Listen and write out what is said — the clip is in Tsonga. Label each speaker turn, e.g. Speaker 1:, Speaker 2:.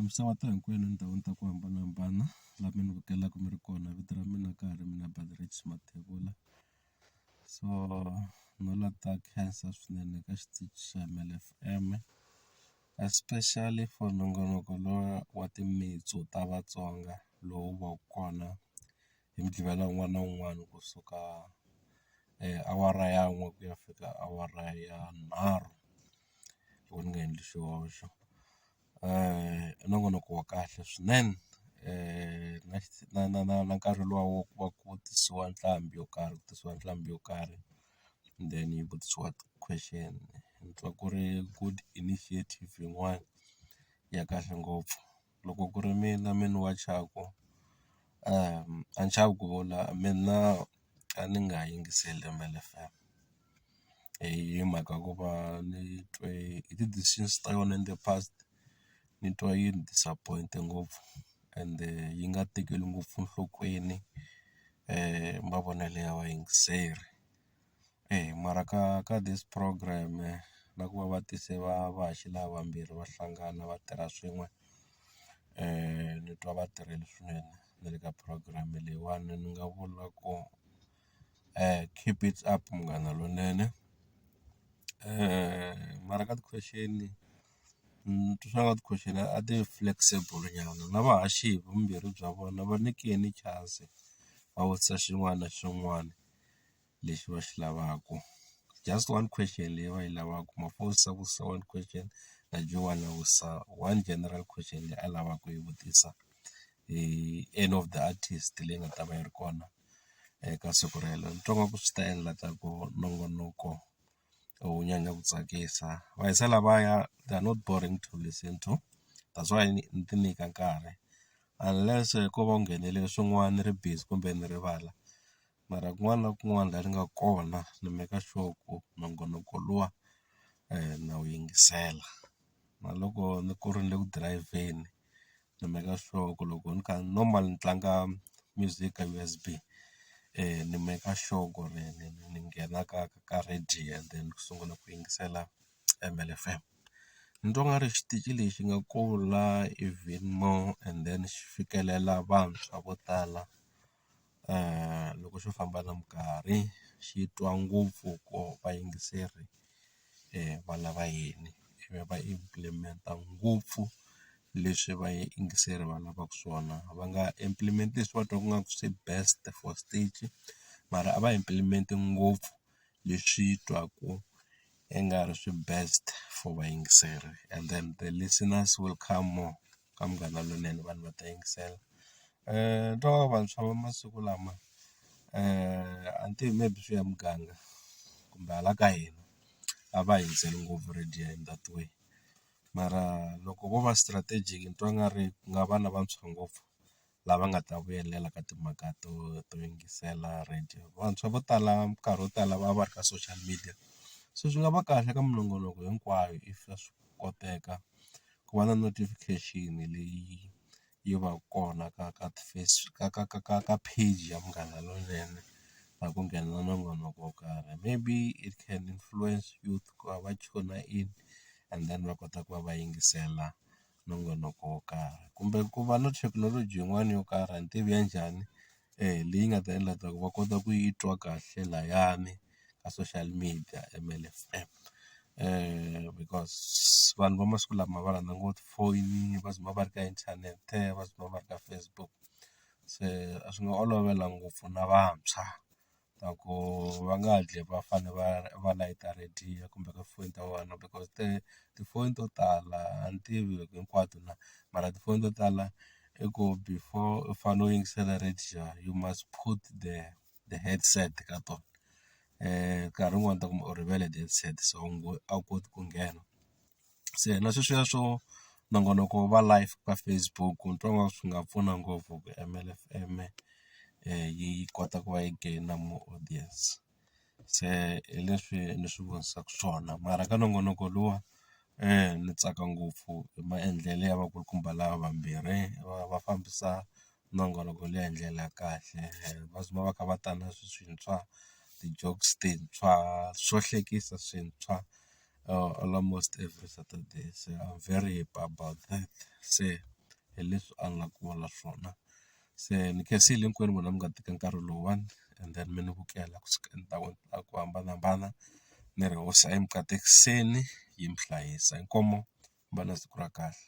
Speaker 1: Misava ta hinkwenu etindhawini ta ku hambanahambana laha mi ni vukelaka mi ri kona vito ra mina ka ha ri mina Baderecki Mathebula so no la ta khensa swinene ka xitichi xa Mel F_M especially for nongonoko lowa wa timitsu ta Vatsonga lowu va ku kona hi Muqgivela wun'wana na wun'wana kusuka awara ya n'we ku ya fika awara ya nharhu. loko ni nga endli xihoxo i nongonoko wa kahle swinene na na na na nkarhi luwa wa ku va ku tisiwa nqambi yo karhi ku tisiwa nqambi yo karhi and then yi vutisiwa ti-question ni twa ku ri good initiative yin'wani ya kahle ngopfu. loko ku ri mina n'wini wa thyaka a ni xavi ku vula mina a ni nga yingiseli Rimbelela F_M hi mhaka ku va ni twe hi ti-decisions ta yona in the past ni twa yi ni disappoint-e ngopfu ende yi nga tekeli ngopfu enhlokweni mavonelo ya vayingiseri. Eya mara ka ka this program na ku va va tise va va haxi lava vambirhi va hlangana va tirha swin'we ni twa va tirhile swinene na le ka program leyiwani ni nga vula ku keep it up munghana lonene mara ka ti-question ni twa swa nga ti question a ti flexible nyana na va haxi hi vumbirhi bya vona va nyikeni chance va vutisa xin'wana na xin'wana. lexi va xi lavaka just one question leyi va yi lavaka mhaka yo se ku se one question na dyiwa one na wisa one general question leyi a lavaka ku yi vutisa hi any of the artist leyi nga ta va yi ri kona eka siku rero ni twa ingaku swi ta endla ta ku nongonoko wu nyanya ku tsakisa va hisa lavaya they are not boring to listen to that's why ni ti nyika nkarhi unless ko va u nghenele swin'wana ni ri busy kumbe ni rivala mara kun'wana na kun'wana laha ni nga kona ni make sure ku nongonoko luwa na wu yingisela. Na loko ni ku ri ni le ku dirayivheni ni make sure ku loko ni kha normal ni tlanga music ka U_S_B ni make sure ku ri ni ni ni nghena ka ka ka radio and then ni sungula ku yingisela M_L F_M. Ni twa nga ri xitichi lexi nga kula even more and then xi fikelela vantshwa vo tala. loko xo famba na minkarhi xi twa ngopfu ku vayingiseri va lava yini ivi va implement-a ngopfu leswi vayingiseri va lavaka swona va nga implement leswi va twaka ingaku swi best for stage mara a va implement ngopfu leswi twaku i nga ri swi best for vayingiseri and then the listeners will come more. ka Munghana Lonene vanhu va ta yingisela. Ni twa onge vantshwa va masiku lama a ni tivi maybe swi ya hi muganga kumbe hala ka hina a va ha yingiseli ngopfu radio in that way mara loko vo va strategic ni twa nga ri ku nga va na vantshwa ngopfu lava nga ta vuyelela ka timhaka to to yingisela radio. Vantshwa vo tala minkarhi yo tala va va ri ka social media, se swi nga va kahle ka minongonoko hinkwayo if swa swi koteka ku va na notification leyi yi va ka kona ka ka ti-face ka ka ka ka ka page ya Munghana Lonene na ku nghena na nongonoko wo karhi. Maybe it can influence youth ku va va tune-a in and then va kota ku va va yingisela nongonoko wo karhi kumbe ku va na thekinoloji yin'wani yo karhi a ni tivi ya njhani leyi nga ta endla ta ku va kota ku yi twa kahle layani ka social media M_L F_M because vanhu va masiku lama va rhandza ngopfu tifoyini va tshama va ri ka inthanete va tshama va ri ka Facebook se a swi nga olovela ngopfu na vantshwa ta ku va nga hatli va fanele va va layita radio kumbe ka tifoni ta vona because te tifoni to tala a ni tivi loko hinkwato na mara tifoni to tala i ku before u fanele u yingisela radio you must put the the headset ka tona nkarhi wun'wani u ta kuma u rivele headset so a wu koti ku nghena. se na sweswiya swo nongonoko wa live ka Facebook ni twa nga swi nga pfuna ngopfu ku M_L F_M yi kota ku va yi gain more audience se hi leswi ni swi vonisaka swona mara ka nongonoko luwa ni tsaka ngopfu hi maendlelo ya vakulukumba lava vambirhi va va fambisa nongoloko leyi hi ndlela ya kahle va sungula va kha va ta na swintshwa ti-jokes tintshwa swo hlekisa swintshwa almost every Saturday se I'm very happy about that se hi leswi a ni la ku vula swona se ni khensile hinkwenu n'wina mi nga teka nkarhi lowuwani and then mi ni vukela ku suka endhawini ta ku hambanahambana ni ri hoxa emukatekiseni yi mi hlayisa inkomu mi va na siku ra kahle.